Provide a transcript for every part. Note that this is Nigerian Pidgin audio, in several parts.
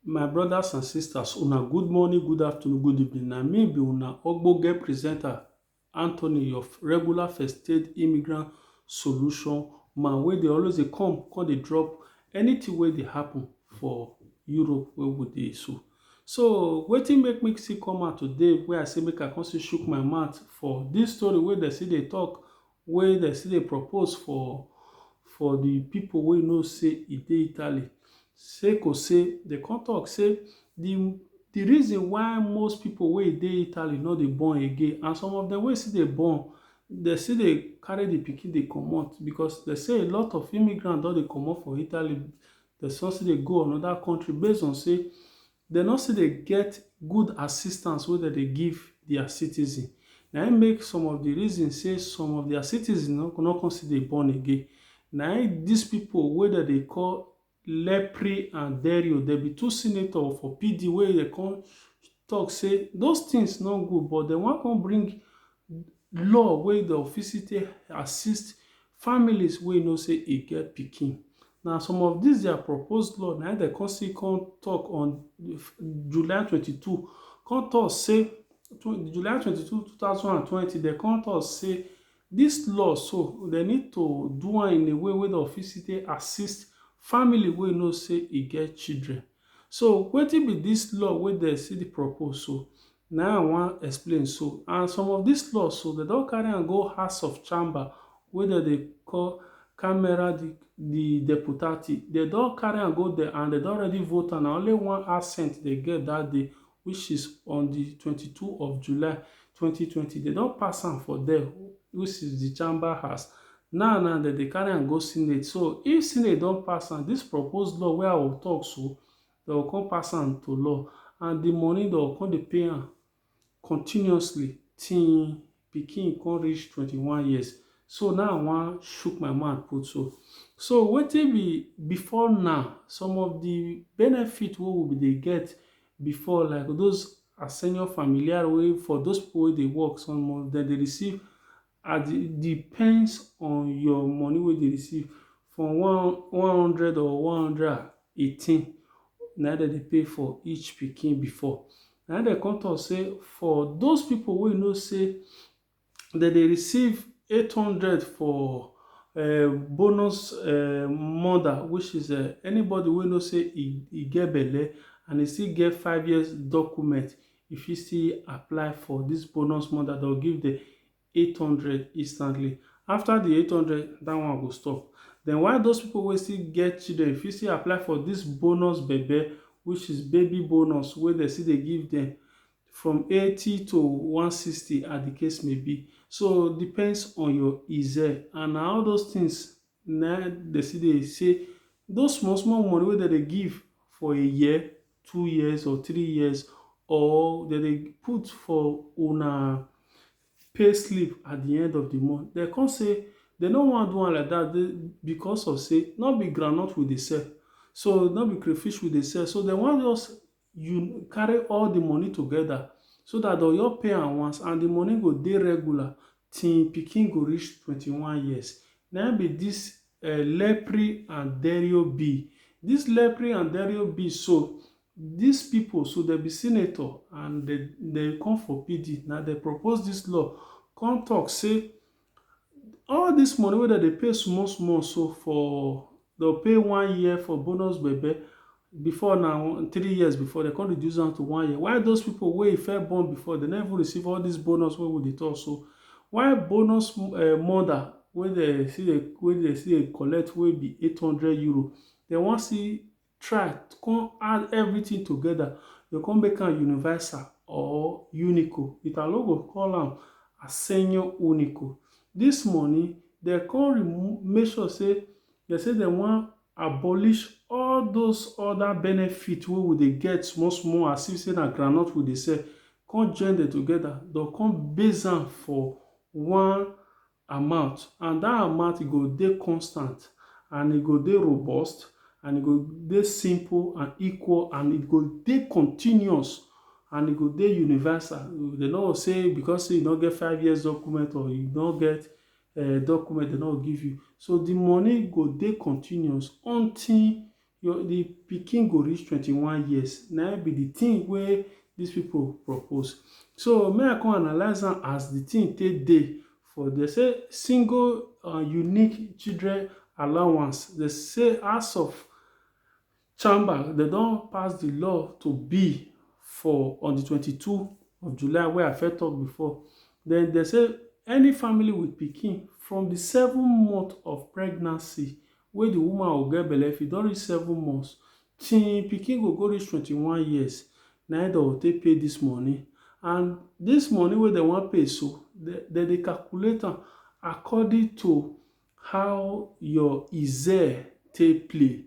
My brothers and sisters, una good morning, good afternoon, good evening. Na me be una ogbonge presenter Anthony, your regular first aid immigrant solution man wey dey always dey come, come dey drop anything wey dey happen for Europe wey we dey so. So wetin make me still come out today wey I say make I come still shook my mouth for this story wey dem still dey talk wey dem still dey propose for for di pipo wey know say e dey Italy sake of say dem come tok say di di reason why most pipo wey dey Italy no dey born again and some of dem wey still dey born dem still dey carry di pikin dey comot because dem say a lot of immigrants don dey comot for Italy dem come still dey go anoda kontri base on say Dem no still dey get good assistance wey dem dey give dia citizens. Na im make some of di reason say some of dia citizens no no come still dey born again. Na im dis pipo wey dem dey call Lepri and Derio, dem be two senator for PD wey dem come tok say those tins no good but dem wan come bring law wey dem fit still take assist families wey know sey e get pikin. Na some of dis their proposed law na im dem come still come talk on July twenty two, come talk sey July twenty two two thousand and twenty dem come talk sey dis law so dem need to do am in a way wey dem go fit still take assist family wey know sey e get children. So wetin be dis law wey dem still dey propose so? Na im I wan explain so and some of dis laws so dem don carry am go house of chamber wey dem dey call camera di deputati dem don carry am go dia and dem don already vote am na only one assent dem get dat day which is on di twenty two of July twenty twenty dem don pass am for dia which is di chamber house now now dem dey carry am go senate so if senate don pass am dis proposed law wey I will talk so dem go come pass am to law and di money dem go come dey pay am continuously till im pikin come reach twenty one years so na im I wan shook my mouth put so. So wetin be before now some of di benefit wey we be dey get before like those assigno familiar wey for those pipu wey dey work some of dem dey receive As e depends on your money wey you dey receive from one one hundred or one hundred and eighteen na im dem dey pay for each pikin before. Na im dem come talk say for those pipu wey you know say dem dey receive eight hundred for um bonus um mother which is um anybody wey know say e e get belle and e still get five years document, You fit still apply for dis bonus money dat dem give dem eight hundred instantly. After the eight hundred, dat one go stop. Den while those pipu wey still get children fit still apply for dis bonus bebe which is baby bonus wey dem still dey give dem from eighty to one sixty as the case may be. So depends on your and na all those things na im dem still dey say those small small money wey dem dey give for a year, two years or three years or dem dey put for una pay slip at de end of de month dem come say dem no wan do am like dat because of sey no be groundnut we dey sell so no be crayfish we dey sell so dem wan just you carry all the money together so that the oyo pay am once and the money go dey regular till pikin go reach 21 years na be this uh, eh, lepri and derio b this lepri and derio b so these people so they be senator and they they come for pd now they propose this law come talk say All dis money wey dem dey pay small small so for dem go pay one year for bonus bebe before na three years before dem come reduce am to one year why those people wey first born before dem no even receive all dis bonus wey we dey talk so why bonus mother wey dem still dey wey dem still dey collect wey be eight hundred euro dem wan still try come add everything together, you go come make am universal or unico. Italo go call am assegno unico. This money, dem come remove, make sure say dem say dem wan abolish all those other benefit wey we dey get small small as if say na groundnut we dey sell, come join dem together, dem come base am for one amount and dat amount e go dey constant and e go dey robust and e go dey simple and equal and e go dey continuous and e go dey universal. Dem no go say because sey you no get five years document or you no get um document dem no go give you. So de money go dey continuous until Your the pikin go reach twenty one years na im be the thing wey these people propose so me I come analyse am as the thing take dey for they say single and unique children allowance they say house of chamber they don pass the law to be for on the twenty two of July wey I first talk before then they say any family with pikin from the seven month of pregnancy wey di woman go get belle if e don reach seven months till im pikin go go reach twenty one years na im dem go take pay dis money and dis money wey dem wan pay so dem dey calculate am according to how your ize take play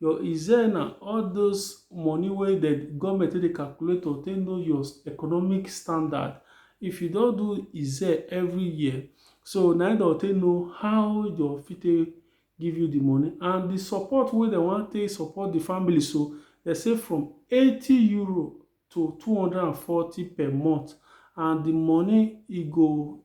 your ize na all those money wey dem government take dey calculate to take know your economic standard if you don do ize every year So na im dem take know how dem fit take give you the money and the support wey dem wan take support the family so dem say from eighty euro to two hundred and forty per month and the money e go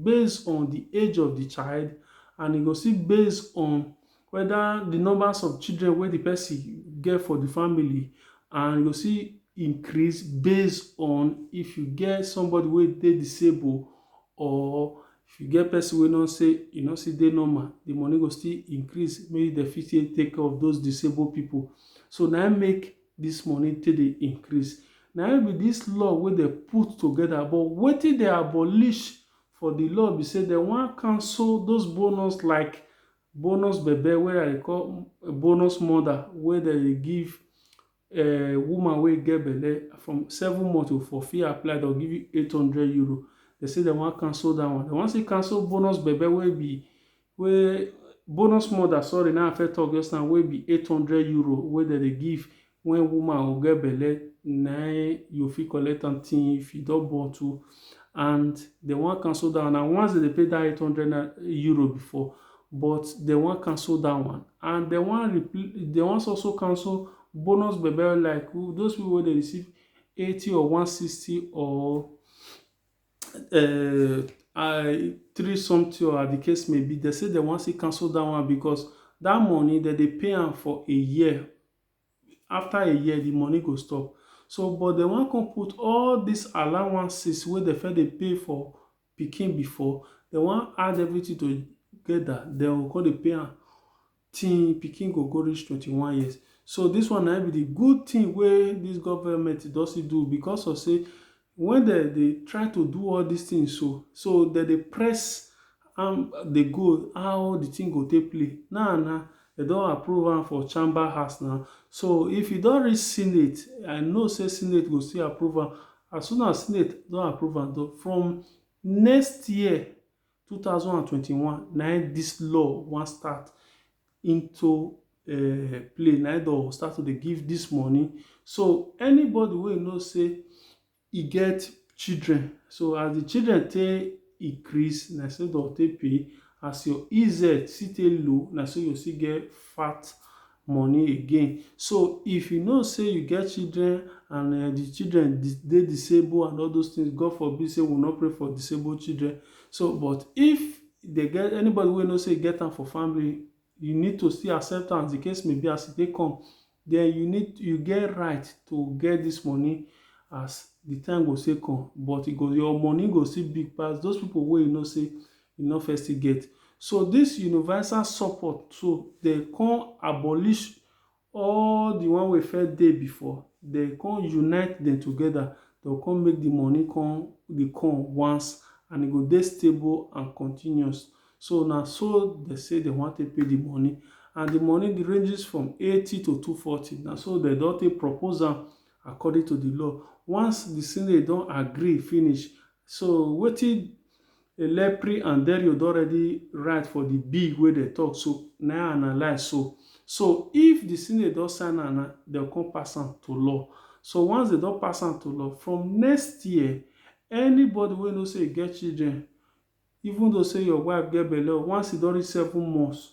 base on the age of the child and e go still base on Weda di numbers of children wey di pesin get for di family and you go see increase base on if you get somebody wey dey disable or if you get pesin wey no say e no still dey normal, di money go still increase make dem fit take take care of those disable pipu. So na im make dis money take dey increase. Na im be dis law wey dem put together but wetin dem abolish for di law be say dem wan cancel those bonus like bonus bebe wey I dey call bonus mother wey dem dey give um woman wey get belle from seven months o for fit apply dem go give you eight hundred euro dem say dem wan cancel dat one dem wan still cancel bonus bebe wey be wey bonus mother sorry na im I first talk just now wey be eight hundred euro wey dem dey give When woman u get belle na u fit collect am till if u don born too and dem wan cancel dat one na once dem dey pay dat eight hundred euro before but dem wan cancel dat one and dem wan replace dem wan also cancel bonus bebe like those people wey dey receive eighty or one sixty or um I three something or as de case may be dem say dem wan still cancel dat one because dat money dem dey pay am for a year after a year di money go stop so but dem wan come put all dis allowances wey dem first dey pay for pikin before dem wan add everything together dem go come dey pay am till pikin go go reach twenty one years so dis one na im be di good thing wey dis government don still do because of sey When dem dey try to do all this things so, so dem dey press am dey go how the thing go take play. Now na dem don approve am for chamber house now, so if e don reach senate, I know say senate go still approve am. As soon as senate don approve am, from next year two thousand and twenty-one na im dis law wan start into um play na im dem start to dey give dis money so anybody wey you know say e get children so as the children take increase na so dem take pay as your EZ still take low na so you still get fat money again. So if you know sey you get children and um the children dey disable and all those things, God forbid sey we no pray for disabled children. So but if they get anybody wey know sey e get am for family, you need to still accept am as the case may be as e take come. Then you need you get right to get this money as the time go take come. But e go your money go still big pass those people wey you know sey e no first still get. So this universal support so they come abolish all the one wey first dey before they come unite them together they go come make the money come dey come once and e go dey stable and continuous so na so they say they wan take pay the money and the money dey ranges from eighty to two forty na so they don take propose am according to the law once the senate don agree finish so wetin Elepri and Derio don already write for di bill wey dem tok so, na im analyse so. So, if di senate don sign am na, dem go come pass am to law. So, once dem don pass am to law, from next year, anybody wey you know say e get children, even though say your wife get belle, once e don reach seven months,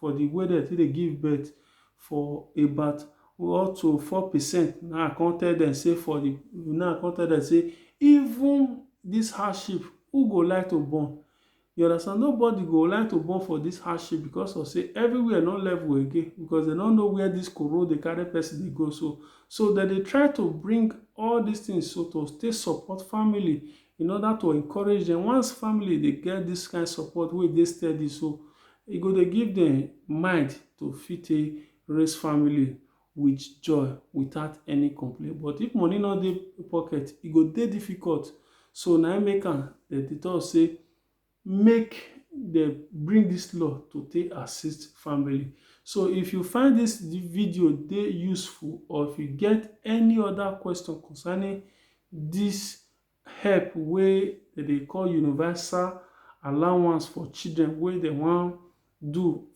for the way dem take dey give birth for about up to four percent na I come tell dem say for the na I come tell dem say even this hardship who go like to born you understand nobody go like to born for this hardship because of say everywhere no level again because they no know where this koro dey carry person dey go so so dem dey try to bring all these things so to take support family in order to encourage them once family dey get this kind support wey dey steady so E go dey give dem mind to fit take raise family with joy without any complain but if money no dey pocket e go dey difficult so na im make am dem dey talk say make dem bring this law to take assist family so if you find this video dey useful or if you get any other question concerning this help wey dem dey call universal allowance for children wey dem wan do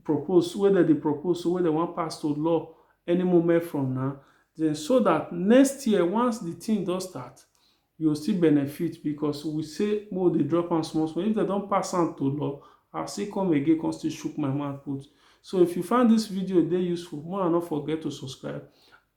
propose, wey dem dey propose so, wey dem wan pass to law any moment from now, den so dat next year once di tin don start, you go still benefit because we say make we dey drop am small small. If dem don pass am to law, I still come again come still chook my mouth put. So if you find dis video dey useful, make una no forget to subscribe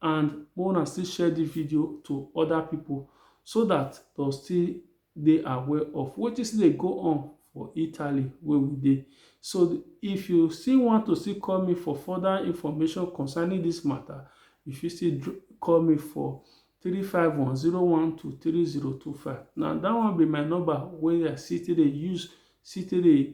and make una still share this video to other people so that they'll still dey aware of wetin still dey go on for Italy where we dey. So if you still want to still call me for further information concerning this matter, you fit still call me for three five one zero one two three zero two five. Now that one be my number wey I still dey use still dey